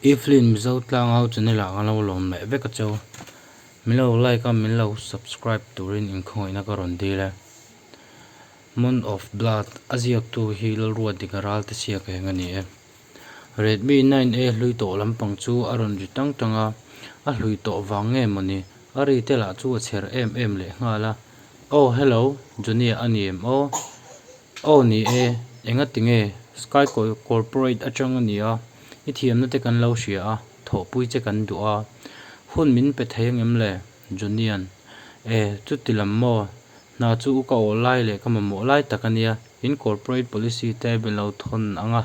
I film mizo tlanga ho chu nila ka lo lawm meh vek a chaw min lo like a min lo subscribe turin inkhawngaihtna ka rawn dil e month of blood a ziak tu hi lalruadik a ral ta siak eng a ni e. Redmi nine a hlui tawh lampang chu a rawn ri tang tang a, a hlui tawh vang nge maw ni? A ri tel ah chu a chher em em leh nghal a, Aw hello, Junia a ni em aw? Aw ni e, enga ti nge? Sky Corporate atang a nia, i thiamna te kan lo hria a, thawhpui che kan duh a, hun min pe thei ang em le? Junian, E, chuti lam maw? Hna chu u ka awh lai leh ka mamawh lai tak a nia. In corporate policy te be lo thawn ang a,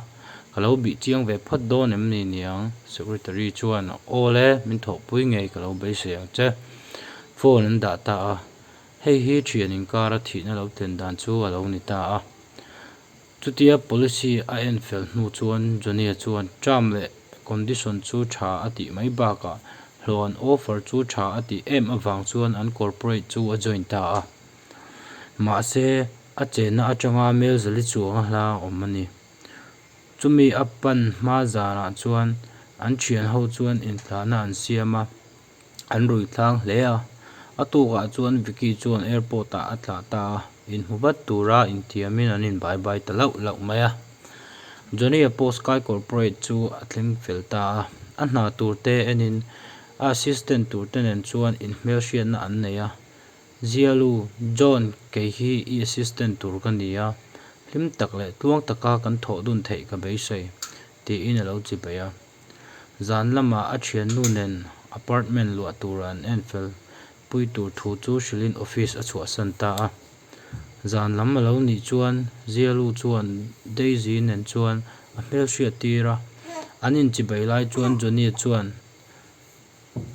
ka lo bih chiang ve phawt dawn em ni niang? Secretary chuan, Awl e, min thawhpui ngei ka lo beisei ang che. Phone an dah ta a, hei hi thian inkar a thihna lo tlen dan chu a lo ni ta a. Chutia policy a en fel hnu chuan Johnny-a chuan term leh condition chu tha a tih mai bakah hlawn offer chu tha a tih em avang chuan an corporate chu a join ta a. Mahse, a chenna atanga Melzali chuanga hla a awm a ni. Chumi a pan hma zanah chuan an thianho chuan intlahna an siam a, an rui thlang hle a. A tukah chuan Vicky chuan airport ah a tla ta a, inhmu vat tura inthiamin an inbai bai ta lauh lauh mai a. Johnny a post kai corporate chu a thleng fel ta a, a hna turte enin a assistant turte nen chuan inhmelhriatna an nei a, Zialu, John kei hi i assistant tur ka ni a, hlim tak leh tluang taka kan thawh dun theih ka beisei, tiin a lo chi beih a. Zan lama a thiannu nen apartment luah tura an en fel pui tur thu chu hrilhin office a chhuahsan ta a. Zan lam a lo nih chuan Zialu chuan Daisy nen chuan a hmelhriat tir a, an inchi beih lai chuan Johnny chuan,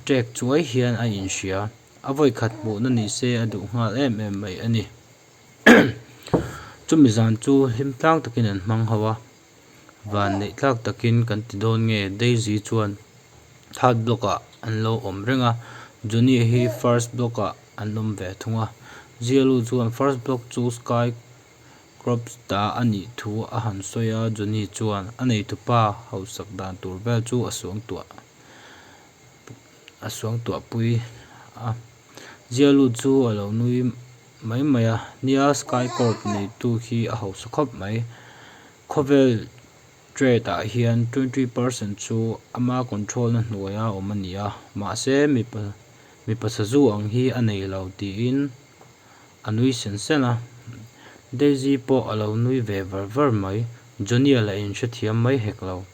Trek chuai hian a inhria. A vawikhat hmuhna ni se a duh nghal em em mai a ni. Chumi zan chu hlim tlang takin an hmang ho a, van neih tlak takin kan ti dawn nge Daisy chuan third block ah an lo awm reng a, Johnny hi first block ah an awm ve thung a. Zialu chuan first block chu sky -- Crops dah a nih thu a han sawi a, Johnny chuan a neitupa hausak dan tur vel chu a suangtuah a suangtuah pui a. Zia lut chu a lo nui mai mai a nia, Sky Corp neitu hi a hausa khawp mai. Khawvel trade ah hian twenty percent chu ama control na hnuai a awm a nia, mahse mi pasazû ang hi a nei lo tiin a nui sen sen a, Daisy pawh a lo nui ve var var mai, Johnny-a la in hrethiam mai hek lo.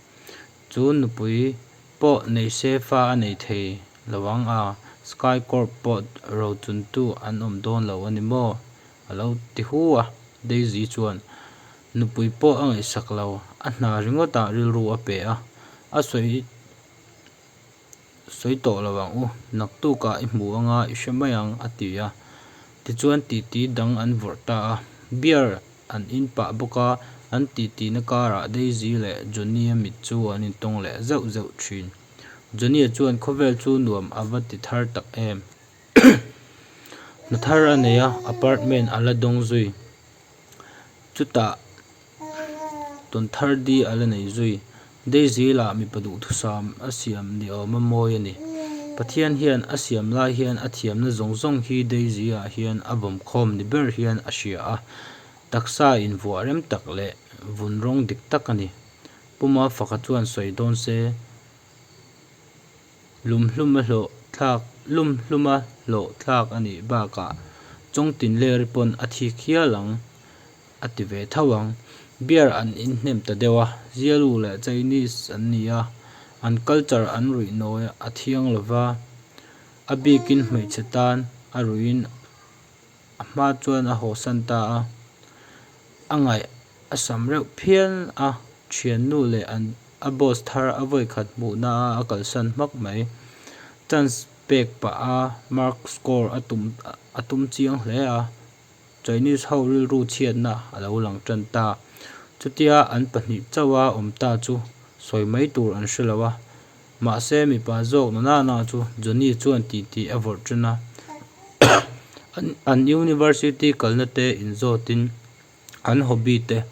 Chu nupui pawh nei se fa a nei thei lo ang a, Sky Corp pawh rochuntu an awm dawn lo a ni maw? a lo ti hu a, Daisy chuan nupui pawh a ngaihsak lo, a hna ringawtah rilru a pe a, a sawi Sawi tawh lo ang u, naktukah i hmu anga i hre mai ang, a ti a. Tichuan titi dang an vawrh ta a. Beer an inpah bawk a, an titihna karah Daisy leh Johnny-a mit chu an intawng leh zeuh zeuh thin. Johnny-a chuan khawvel chu nuam a va ti thar tak em. Hna thar a nei a, apartment a la dawng zui. Chutah. Tawn thar di a la nei zui. Daisy lah mipa duhthusam a siam ni awm a mawi a ni. Pathian hian a siam lai hian a thiamna zawng zawng hi Daisy ah hian a vawm khawm ni ber hian a hria a. Taksa in vuah rem tak leh vun rawng dik tak a ni. Puma faka chuan sawi dawn se. Lum hlum a hlawh thlak Lum hlum a hlawh thlak a nih bakah chawng tin ler pawn a thik hial ang a ti ve tho ang. Beer an inhnem ta deuh a, Zialu leh Chinese an ni a, an culture an ruih nawi a thiang lo va, a bikin hmeichhe tan a ruiin A hma chuan a haw san ta a, a ngaih a sam reuh phian a, thiannu leh an a boss thar a vawi khat hmuhna a a kalsan hmak mai. Chance pek pah a, Mark score a tum a tum chiang hle a, Chinese ho rilru chhiatna a lo lang tan ta. Chutia an pahnih chauha awm ta chu sawi mai tur an hre lo a. Mahse, mipa zawk na nana chu Johnny chuan tih tih a vawrh ṭhin a. An university kalna te inzawtin, an hobby te,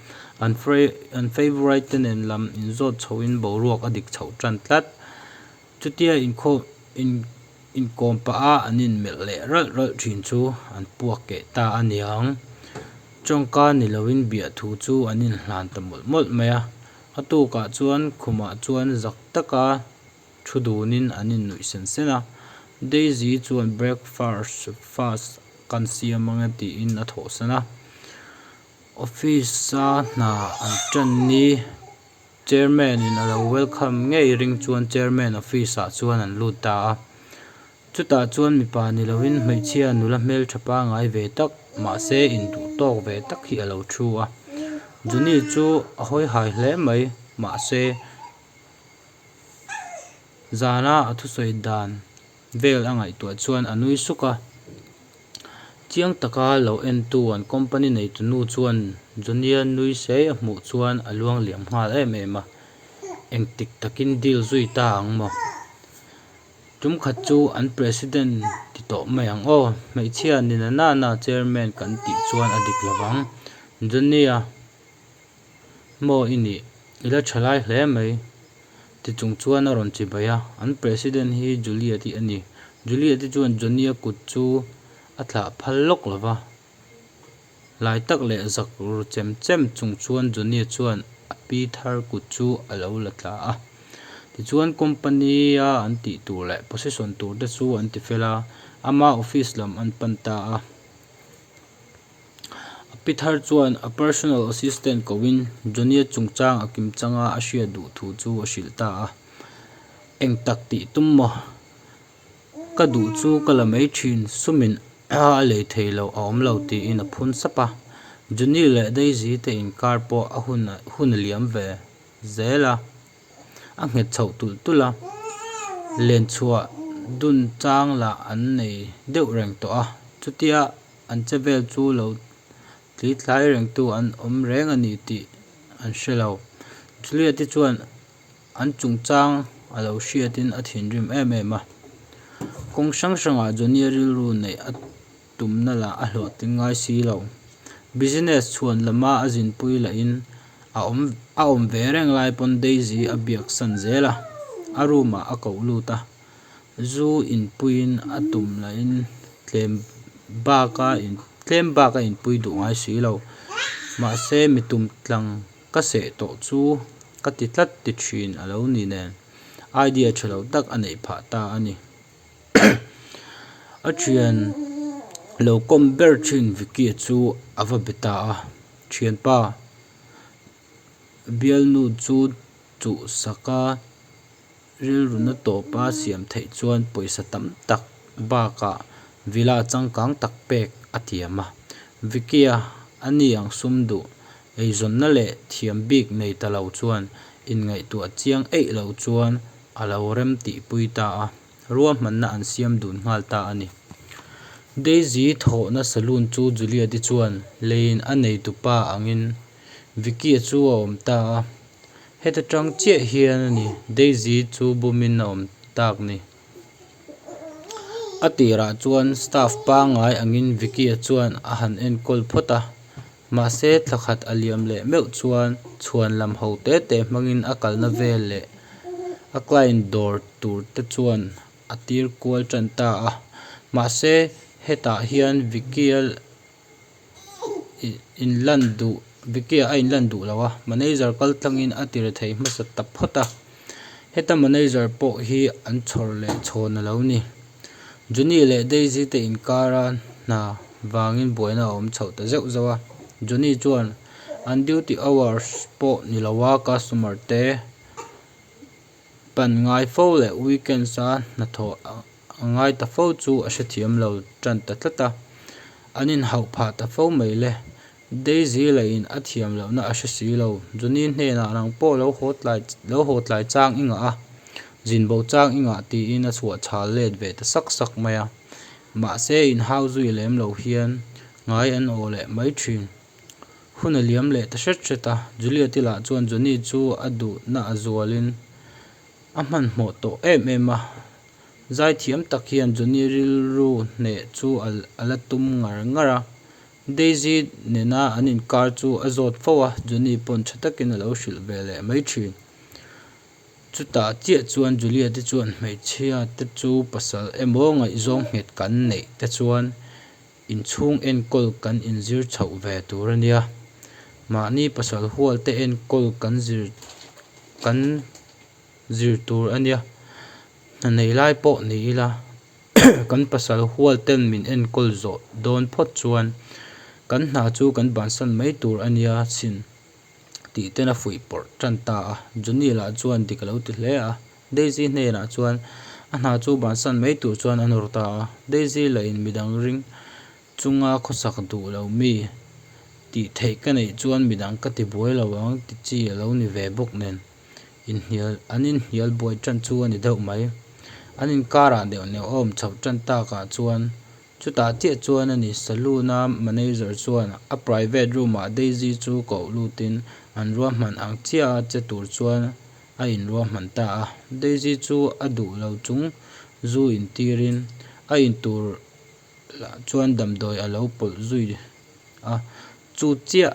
an favourite te nen lam inzawt chhoin boruak a dik chhoh ṭan tlat. Chutia inkawm pah a an inmelh leh ralh ralh ṭhin chu an puak keh ta a niang. Chawngka ni loin biah thu chu an inhlan ta mawlh mawlh mai a. A tukah chuan khumah chuan zak taka thu dunin an innuih sen sen a. Daisy chuan breakfast fast kan siam ange tiin a thawhsan a. Office a hna an ṭan ni chairman-in a lo welcome ngei ring chuan chairman office-ah chuan an lut ta a. Chutah chuan mipa ni loin hmeichhia nula hmeltha pangai ve tak mahse induh tawk ve tak hi a lo thu a. Juni chu a hawihai hle mai mahse zana a thusawi dan vel a ngaihtuah chuan a nui suk a. Chiang taka lo entu an company neitunu chuan Junia nui sei a hmuh chuan a luang liam nghal em em a. Engtik takin deal zui ta ang maw? Tumkhat chu an president ti tawh mai ang aw, hmeichhia nina nana chairman kan tih chuan a dik lovang. Johnny-a, Maw i nih, i la tha lai hle mai, ti chung chuan a rawn chibai a, an president hi Juliet-i a ni. Juliet-i chuan Johnny-a kut chu a thlah phal lawk lova, Lai tak leh zak ru chem chem chung chuan Johnny-a chuan a pi thar kut chu a lo la tla a. Tichuan company-a an tih tur leh position tur te chu an ti fel a, ama office lam an pan ta a. A pi thar chuan a personal assistant kohin Johnny-a chungchang a kim changa a hriat duh thu chu a hrilh ta a. Eng tak tih tum maw? Ka duh chu ka la mai thin sumin a lei thei lo a awm lo tiin a phun sap a, Junie leh Daisy te inkar pawh a hun a hun a liam ve zel a, a nghet chhoh tulh tulh a, len chhuah dun chang lah an nei deuh reng tawh a, chutia an che vel chu lo tli tlai reng tu an awm reng a ni tih an hre lo, Juliet-i chuan An chungchang a lo hriatin a thinrim em em a. Kawng hrang hrangah Johnny a rilru neih a tumna lah a hlawhtling ngai si lo. Business chhuan lama a zinpui lahin a awm a awm ve reng lai pawn Daisy a biaksan zel a, a room ah a koh lut a. Zu inpuiin a tum lahin tlem baka in tlem baka inpui duh ngai si lo. Mahse mi tum tlang. Ka seh tawh chu ka ti tlat ti thin a lo ni nen idea tha lo tak a neih phah ta a ni. A thian lo kawm ber thin Vicky-a chu a va be ta a, Thianpa, Bialnu chu chuhsaka. Rilruna tawpa siam theih chuan pawisa tam tak bakah Vila changkang tak pek a tiam a. Vicky-a a ni ang sum duh, eizawnna leh thiam bik nei ta lo chuan inngaihtuah chiang eih lo chuan a lo rem tihpui ta a, ruahmanna an siam dun nghal ta a ni. Daisy thawhna saloon chu Juliet-i chuan leiin a neitu pa angin Vicky-a chu a awm ta a, heta tang chiah hian a ni, Daisy chu bumin a awm tak ni. A tirah chuan staff pangngai angin Vicky-a chuan a han enkawl phawt a, mahse thla khat a liam leh meuh chuan chhuan lam ho te te hmangin a kalna vel leh a client dawr tur te chuan a tir kual tan ta a, mahse hetah hian Vicky-a. in lan duh, Vicky-a a in lan duh lo a, manager kal tlangin a tir theih hmasa ta phawt a. Heta manager pawh hi an chhawrh leh chhawn a lo ni. Johnny leh Daisy te inkara hna vangin buaina a awm chho ta zeuh zeuh a. Johnny chuan, An duty hours pawh ni lo a, customer te pan ngai fo leh weekends a hnathawh A ngai ta fo chu a hrethiam lo tan ta tlat a, an inhauh phah ta fo mai le. Daisy la in a thiam lohna a hre si lo. Johnny hnenah nang pawh lo haw tlai lo haw tlai chang i ngah a, zin bo chang i ngah tiin a chhuah chhal let ve ta sak sak mai a. Mahse inhau zui lem lo hian ngai an aw leh mai thin. Hun a liam leh ta hret hret a, Juliet i lah chuan Johnny chu a duhna a zualin a hmanhmawh tawh em em a. Zai thiam tak hian Johnny rilru hneh chu a la tum ngar ngar a. Daisy nena an inkar chu a zawt fo a, Johnny pawn tha takin a lo hrilh ve leh mai thin. Chutah chiah chuan Juliet-i chuan hmeichhia te chu pasal emaw ngaihzawng nghet kan neih te chuan inchhung enkawl kan inzir chhoh ve tur a nia. Mahni pasal hualte enkawl kan zir kan. zir tur a nia hna neih lai pawh ni ila kan pasal hual ten min enkawl zawh dawn phawt chuan kan hna chu kan bansan mai tur a nia chin tih ten a fuih pawrh tan ta a Junil ah chuan dik a lo ti hle a Daisy hnenah chuan a hna chu bansan mai tur chuan a nawr ta a Daisy la in midang ring chunga khawsak duh lo mi tih theih ka neih chuan midang ka ti buai lo ang tichi a lo ni ve bawk nen. inhnial an inhnial buai ṭan chu a ni deuh mai. An inkarah deuh neuh awm chho ṭan takah chuan chutah chiah chuan a ni. Saloon-a manager chuan a private room-ah Daisy chu koh lutin an ruahman ang chiah a che tur chuan a inruahman ta a. Daisy chu a duh lo chung zu intirin a intur lah chuan damdawi a lo pawlh zui a. Chu chiah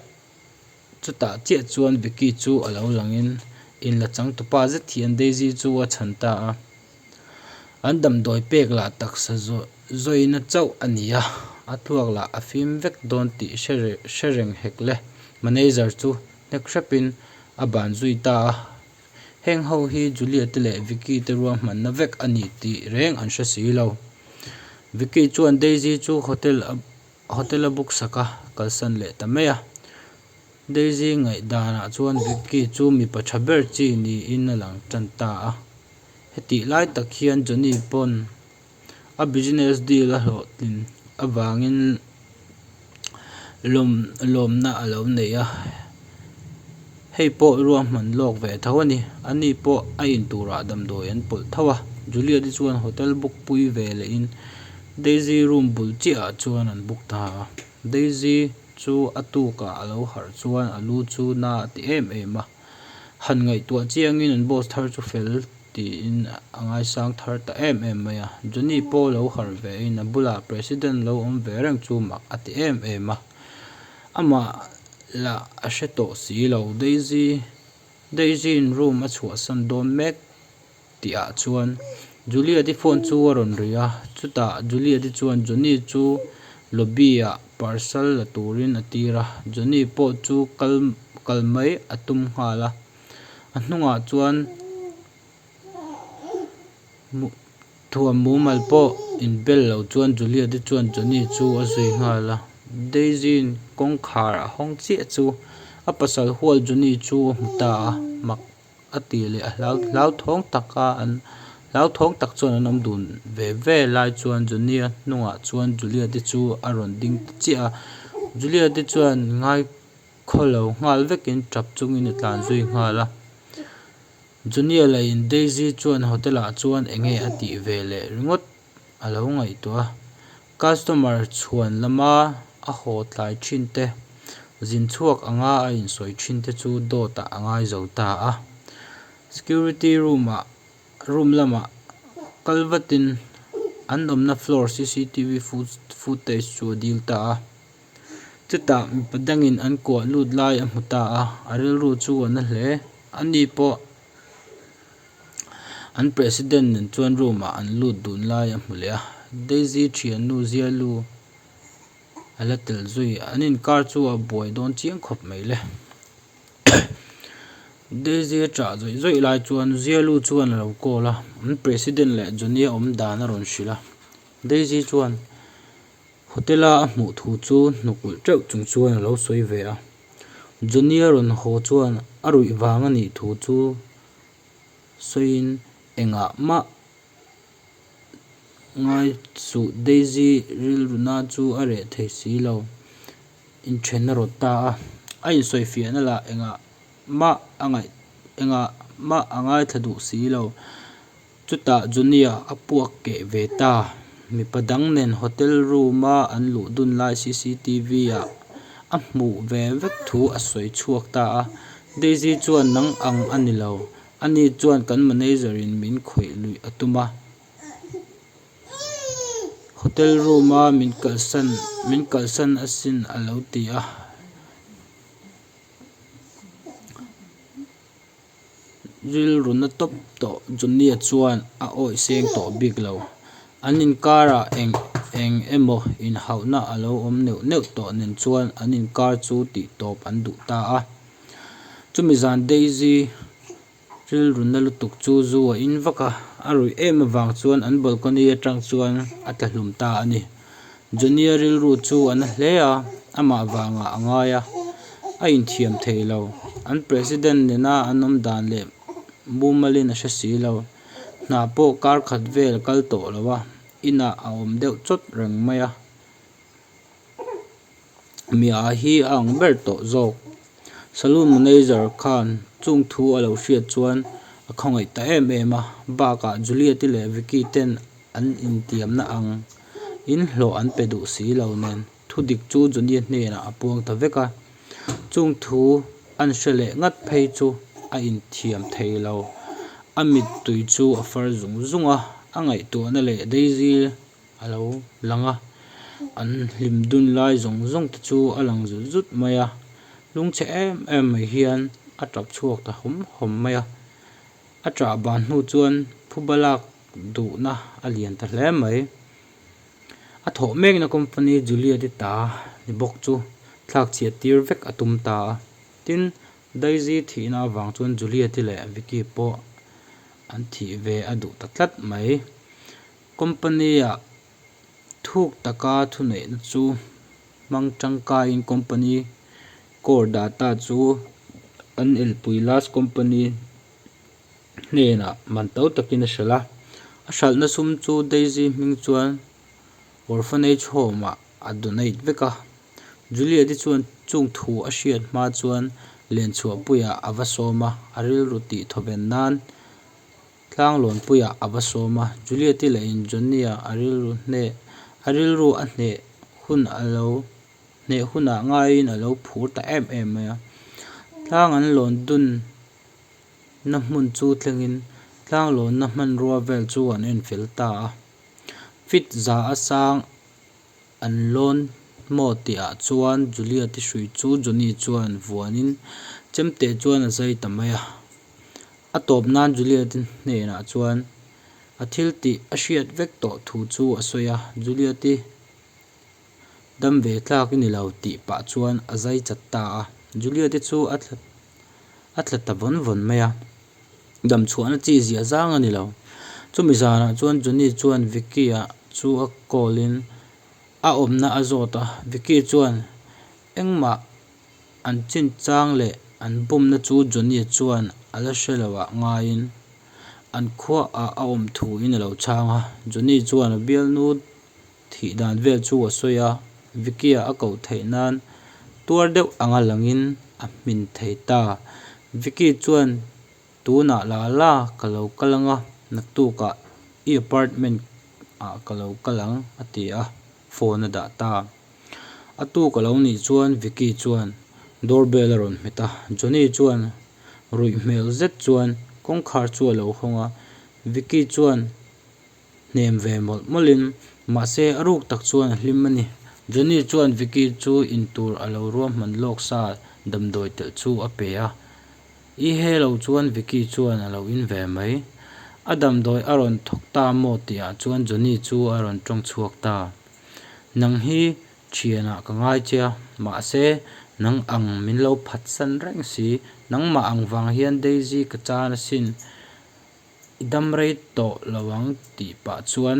Chutah chiah chuan Vicky chu a lo langin in la chang tu pa zet hian Daisy chu a chhan ta a, an damdawi pek lah taksa zawina chauh a ni a, a thluak lah a fim vek dawn tih hre reng hek le. Manager chu hnek hrepin a ban zui ta a, heng ho hi Julia te leh Vicky te ruahmanna vek a ni tih reng an hre si lo. Vicky chuan Daisy chu hotel a Hotel-a book saka kalsan leh ta mai a. Daisy ngaih danah chuan Vicky chu mipa tha ber chi niin a lang tan ta a. Hetih lai tak hian Johnny pawn a business deal-a hlawhtlin avangin lawmna a lo nei a. Hei pawh ruah hman lawk ve tho a ni. Ani pawh a in turah damdawi an pawlh tho a. Juliet hi chuan hotel book pui ve lehin Daisy room bul chiahah chuan an book ta a. Daisy chu a tukah a lo harh chuan a lu chu na a ti em em a. Han ngaihtuah chiangin an boss thar chu fel tiin a ngaisang thar ta em em mai a. Johnny pawh lo harh vein a bulah president lo awm ve reng chu mah a ti em em a. Amah lah a hre tawh si lo Daisy. Daisy-in room a chhuahsan dawn mek tih ah chuan Juliet-i phone chu a rawn ri a, chutah Juliet-i chuan Johnny chu lobby ah parcel la turin a tir a, Johnny pawh chu kal kal mai a tum nghal a. A hnungah chuan Thuam mumal pawh in bel lo chuan Juliet-i chuan Johnny chu a zui nghal a. Daisy-in kawngkhar a hawng chiah chu a pasal hual Johnny chu a hmu ta a, mak a ti leh a hlau hlauthawng tak a an hlauthawng tak chuan an awm dun ve ve lai chuan Johnny-a hnungah chuan Juliet-i chu a rawn ding ta chiah a. Juliet-i chuan ngai khaw lo nghal vekin ṭap chungin a tlan zui nghal a. Junia lahin Daisy chuan hotel ah chuan eng nge a tih ve leh ringawt a lo ngaihtuah a. Customer chhuan lama a haw tlai thin te, zin chhuak anga a insawi thin te chu dawt ah a ngai zo ta a. Security room ah room lamah kal vatin an awmna floor cctv footage chu a dil ta a. Chutah mipa dangin an kuah lut lai a hmu ta a, a rilru chu a na hle. Ani pawh an President nen chuan room-ah an lut dun lai a hmu leh a. Daisy thiannu zia lu a la tel zui. An inkar chu a buai dawn chiang khawp mai le. Daisy a chah zawih zawih lai chuan zia lu chuan a lo call a, an President leh Johnny a awm dan a rawn hrilh a. Daisy chuan. Hotel a a hmuh thu chu hnukulh teuh chung chuan a lo sawi ve a, Johnny a rawn haw chuan a ruih vang a nih thu chu sawiin engah mah ngai suh Daisy rilruna chu a reh thei si lo, inthen a rawt ta a, a insawifiahna lah engah mah a ngaih engah mah a ngaithla duh si lo. Chutah Junia a puak keh ve ta. Mipa dang nen hotel room a an luh dun lai cctv ah a hmuh ve vek thu a sawi chhuak ta a. Daisy chuan nang ang a ni lo, a ni chuan kan manager in min khawih luih a tum a. Hotel room a min kalsan min kalsan asin a lo ti a. Rilru na tawp tawh Junia chuan a awih seng tawh bik lo. An inkarah eng eng emaw inhauhna a lo awm neuh neuh tawh nen chuan an inkar chu tih tawp an duh ta a. Chumi zan Daisy rilru na lutuk chu zu a in vak a, a ruih em avang chuan an balcony atang chuan a tla hlum ta a ni. Johnny-a rilru chu a na hle a, amah vangah a ngai a, a inthiam thei lo. An President nena an awm dan leh mumalin a hre si lo. Hna pawh kar khat vel kal tawh lo a, inah a awm deuh chawt reng mai a. miah ah hi a ang ber tawh zawk. Saloon manager khan chung thu a lo hriat chuan a khawngaih ta em em a, bakah Juliet-i leh Vicky ten an intiamna ang in hlawh an pe duh si lo nen thu dik chu Juliet hnenah a puang ta vek a, chung thu an hre leh ngat phei chu a inthiam thei lo. A mittui chu a far zung zung a, a ngaihtuahna leh Daisy. a lo lang a, an hlim dun lai zawng zawng te chu a lang zut zut mai a, lung che em em mai hian a tap chhuak ta hawm hawm mai a, a chah ban hnu chuan phu balak duhna a lian ta hle mai, a thawh mek na company Juliet-i ta ni bawk chu thlak chhiat tir vek a tum ta a, tin Daisy thih na avang chuan Juliet-i leh Vicky pawh an thih ve a duh ta tlat mai. Company-a thuk taka thuneihna chu hmang tangkaiin company core data chu an elpui last company hnenah man to takin a hrilh a. A hralhna sum chu Daisy hming chuan orphanage home-ah a donate vek a. Juliet-i chuan chung thu a hriat hma chuan Lenchhuahpuiah a va sawm a, a rilru tih thawven nan. Tlanglâwnpuiah a va sâwm a, Juliet-i lahin Johnny-a a rilru hneh, a rilru a hneh hun a lo, hneh hunah ngaiin a lo phûr ta êm êm mai a. Tlâng an lâwn dûnna hmun chu thlengin tlâng lâwnna hmanrua vêl chu an en fel ta a. Fit za a sâng. An lawn maw tih ah chuan Juliet i hruih chu Johnny chuan vuan in chem teh chuan a zai ta mai a. A tawp nan Juliet i hnen ah chuan a thil tih a hriat vek tawh thu chu a sawi a, Juliet i dam ve thlak i ni lo tih pah chuan a zai chat ta a. Juliet i chu a thla ta vawn vawn mai a. Damchhuahna chi ziah zang a ni lo. Chumi zanah chuan Johnny chuan Vicky-a chu a call in a awmna a zawt a. Vicky chuan, Engmah an chinchang leh an bumna chu Johnny chuan a la hre lo ah ngaiin an khuaah a awm thu in a lo chhang a. Johnny chuan a bialnu. Thih dan vel chu a sawi a, Vicky-a a koh theih nan tuar deuh anga langin a hmin thei ta. Vicky chuan, Tunah la la ka lo kal ang a, naktukah i apartment ah ka lo kal ang a ti a, phone a dah ta. A tu ka lo nih chuan Vicky chuan doorbell a rawn hmet a, Johnny chuan ruih hmel zet chuan kawngkhar chu a lo hawng a, Vicky chuan, hnem ve mawlh mawlh in, mahse a ruk tak chuan a hlim a ni. Johnny chuan Vicky chu in tur a lo ruahman lawk sa damdawi telh chu a pe a. I he lo chuan Vicky chuan a lo in ve mai. A damdawi a rawn thawk ta maw tih ah chuan Johnny chu a rawn tawng chhuak ta. Nang hi thian ah ka ngai che a, mahse nang ang min lo phatsan reng si, nangmah ang vang hian Daisy ka chan a sin. I dam rei tawh lo ang tih pah chuan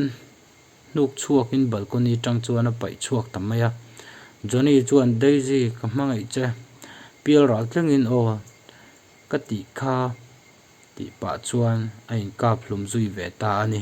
hnuk chhuakin balcony tang chuan a paih chhuak ta mai a. Johnny chuan, Daisy, ka hmangaih che, pial ral tlingin aw ka tih kha tih pah chuan a inkap hlum zui ve ta a ni.